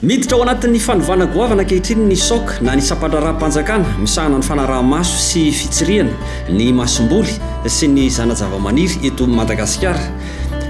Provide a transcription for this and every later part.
Miditra ao anatin'ny fanovana goavana ankehitriny ny SOC na ny Sampandraharaham-panjakana misahana ny fanaraha-maso sy fitsirihana ny masomboly sy ny zana-javamaniry eto Madagasikara.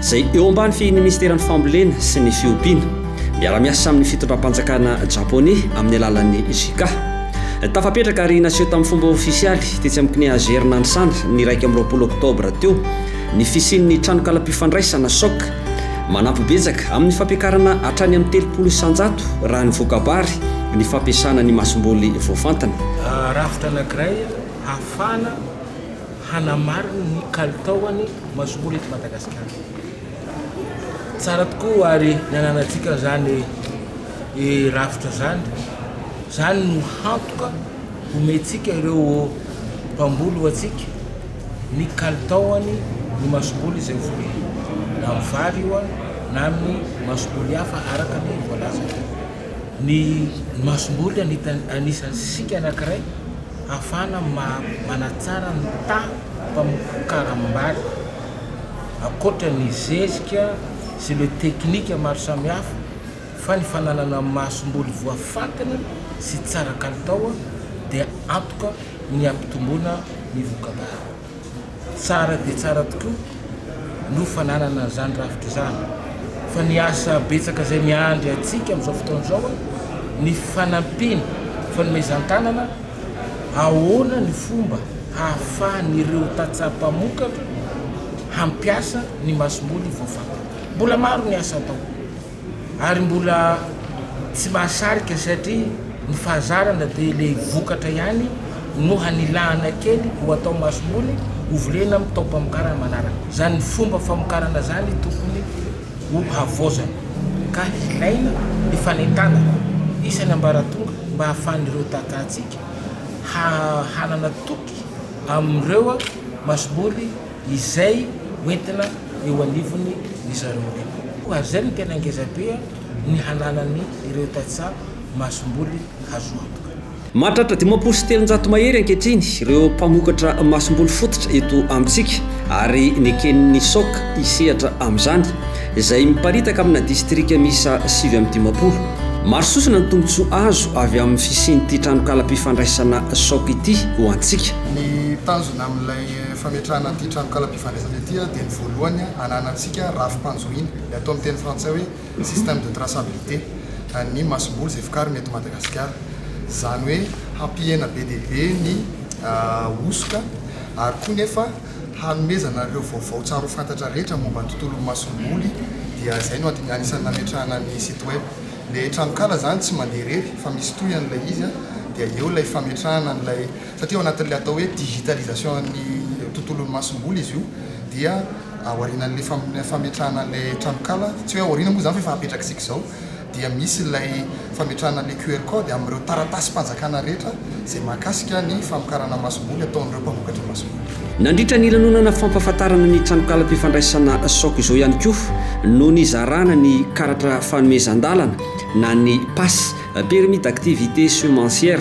izay eo ambany fehin'ny Minisiteran'ny Fambolena sy ny Fiompiana, miara-miasa amin'ny fitondram-panjakana Japoney amin'ny alalan'ny JICA. Tafapetraka ary naseho tamin'ny fomba ofisialy tetsy amin'ny CNEAGR Nanisana ny iraika amby roapolo oktobra teo ny fisian'ny tranonkalam-pifandraisana, soc, manampy betsaka amin'ny fampiakarana hatrany amin'ny telopolo isanjato raha ny voka-bary ny fampiasana ny masomboly voafantina. Rafitra anankiray hahafahana hanamarina ny kalitaon'ny masomory eto Madagasikara. Tsara tokoa ary ny ananantsika izany rafitra izany, izany no hantoka homentsika ireo mpamboly ho antsika ny kalitaon'ny ny masomory izay voly, na amin'ny vary io na amin'ny masomory hafa araka ny voalazan'ny masomory anisan'ny sisika anankiray. Hafana manatsara ny taha mpamokaram-bary. Ankoatra ny zezika sy ireo teknika maro samihafa, fa ny fananana masomboly voafantina sy tsara kalitao dia antoka ny hampitomboana ny voka-bary. Tsara dia tsara tokoa no fananana an'izany rafitra izany, fa ny asa betsaka izay miandry antsika amin'izao fotoana izao, ny fanampiana, fanomezan-tanana, ahoana ny fomba hahafahan'ireo tantsaha mpamokatra hampiasa ny masomboly voafantina. Mbola maro ny asa atao. ary mbola tsy mahasarika satria ny fahazarana dia le vokatra ihany no hanilahana kely ho atao masomboly ho volena amin'ny taom-pamokarana manaraka. Izany fomba famokarana izany tokony ho havaozana ka hilaina ny fanentanana isan'ny ambaratonga mba hahafahan'ireo tahantsika hanana toky amin'ireo masomboly izay hoentina eo anivony ry zareo ireo. Ary izay no tena ngeza be ny hananany ireo tantsaha masomboly hazo antoka. Mahatratra dimampolo sy telonjato mahery ankehitriny ireo mpamokatra masomboly fototra eto amintsika ary neken'ny soc hisehatra amin'izany, izay miparitaka amina distrika miisa sivy amby dimampolo. Maro sosona ny tombontsoa azo avy amin'ny fisian'ity tranonkalam-pifandraisana soc ity ho antsika. Ny tanjona amin'ilay Fametrahana an'ity tranokalam-pifandraisana ity dia ny voalohany ananantsika rafi-panjohiana, ny atao amin'ny teny frantsay hoe système de traçabilité, an'ny masomboly izay vokarina eto Madagasikara. Izany hoe hampihena be dia be ny hosoka ary koa nefa hanomezana ireo vaovao tsara ho fantatra rehetra momba ny tontolon'ny masomboly dia izay no anisan'ny nametrahana ny site web. Ilay tranonkala izany tsy mandeha irery fa misy tohiny ilay izy dia eo ilay fametrahana an'ilay satria ao anatin'ilay atao hoe digitalisation-n'ny tontolon'ny masomboly izy io dia ao aorianan'ilay fametrahana an'ilay tranonkala, tsy hoe ao aoriana moa izany fa efa apetrak'isika izao, dia misy ilay fametrahana ilay QR code amin'ireo taratasim-panjakana rehetra izay mahakasika ny famokarana masomboly ataon'ireo mpamokatra masomboly. Nandritra ny lanonana fampahafantarana ny tranonkalam-pifandraisana Soc izao ihany koa no nizarana ny karatra fanomezan-dalana na ny Pass, Permis d'activité semencière,